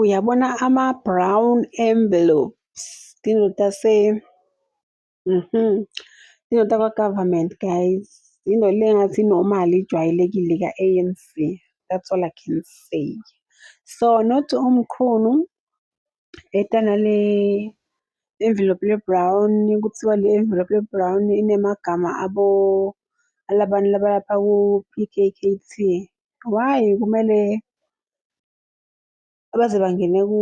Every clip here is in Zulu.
Uyabona ama-brown envelopes indoda se mhm indoda kwa-government guys into le ngathi normal ijwayelekile ka-ANC that's all I can say so not omkhulu Bheda nale envelope le-brown, kuthiwa le envelope le-brown inemagama abo alabantu labalapha ku-P_K_K_T. Why kumele baze bangene ku.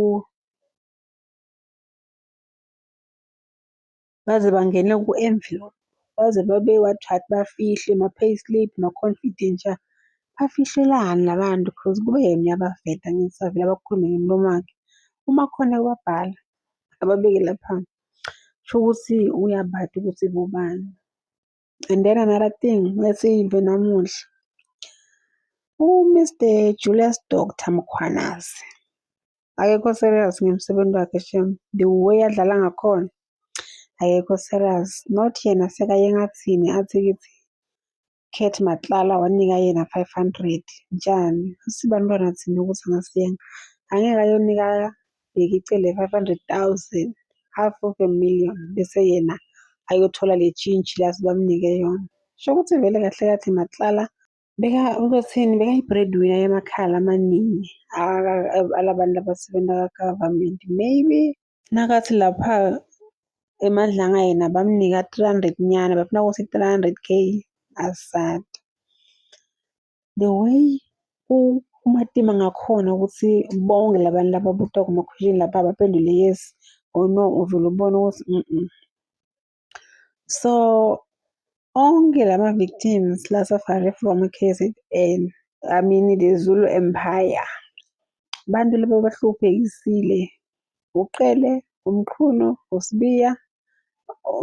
baze bangene ku-envelope baze babe what what bafihle ma-payslip ma-confidential bafihlelani la bantu cause kube yena uyabaveta ngisavele abakhulume ngemilomo wakhe uma khona kubabhala ababeke lapha sho ukuthi uyabati ukuthi bobani. And then another thing esiyive namuhla uMr Julius Doctor Mkhwanazi akekho serious ngemsebenzi wakhe shem the way adlala ngakhona akekho serious not yena sekaye ngathini athi kithi Kurt Matlala wanika yena 500 njani usibantwana thina ukuthi angasiyena angeke ayonika Bheki icele 500,000 half of a million bese yena ayothola le tshintshi lazi bamnike yona. Sho ukuthi vele kahle kahle Matlala beka uzothini bekayi-breadwinner yamakhala amaningi alabantu abasebenza ka-government maybe nakathi lapha emadlanga yena bamnika 300 nyana bafuna ukuthi 300 k asad the way umatima ngakhona ukuthi bonke labantu laba buta kumakhwishini lapha baphendule yes or no uvele ubone ukuthi mm, mm. so onke lama victims la safari from KZN I mean the Zulu Empire abantu laba bahluphekisile uqele umqhuno usibiya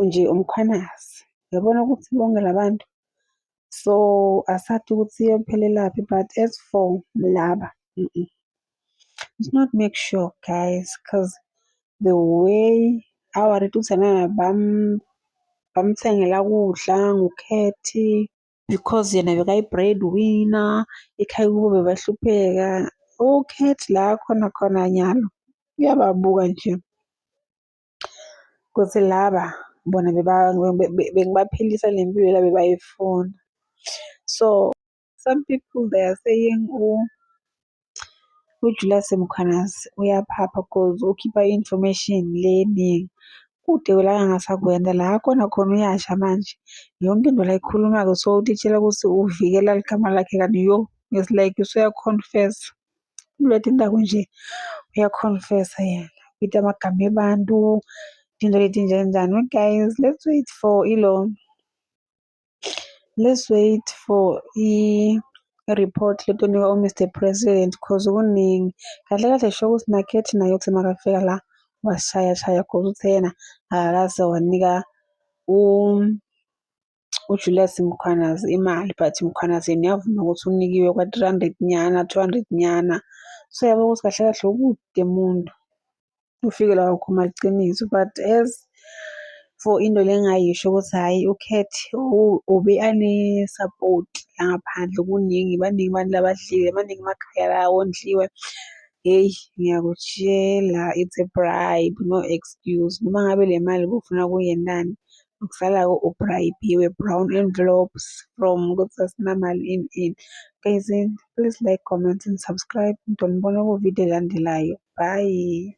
nje umkhwanazi yabona ukuthi bonke labantu so asathi ukuthi iyophelelaphi but as for laba mm -mm. it's not make sure guys because the way our rituzana bam bamthengela kudla ngukhethi because yena bekayi-bread winner ekhaya kubo bebahlupheka ukhethi la khona khona nyalo uyababuka nje Kuthi laba bona bengibaphilisa le mpilo la bebayifuna. So some people they are saying uJulius Mkhwanazi uyaphapha cause ukhipha i-information le eningi. Kude la angasakwenza la akhona khona uyasha manje. Yonke into la ayikhulumayo so utitshela ukuthi uvikela ligama lakhe kanti yo it's like usuya-confess. Uletha indaba nje uyakhonfesa yena uthi amagama ebantu into leti nje njani but guys let's wait for ilo let's wait for i-report letonikwa u-mr president cause kuningi kahle kahle sho ukuthi nakhethi naye ukuthi makafika la washaya shaya cause uthe yena akakaze wanika u uJulius Mkhwanazi imali but Mkhwanazi yena uyavuma ukuthi unikiwe kwa-three hundred nyana, two hundred nyana. So uyabo ukuthi kahle kahle ukude muntu ufike la wakhuluma iqiniso but as for into le engayisho ukuthi hhayi ukhethi ube ane-support la ngaphandle kuningi baningi abantu labadlile baningi amakhaya la wondliwe. Hheyi ngiyakutshela it's a bribe no excuse noma ngabe le mali bufuna kuyenani Ngisalako uBribiwe Brown and Globes from ukuthi asinamali in in. Guys, please like, comment and subscribe. Ngidonibona kuvidiyo elandelayo. Bye.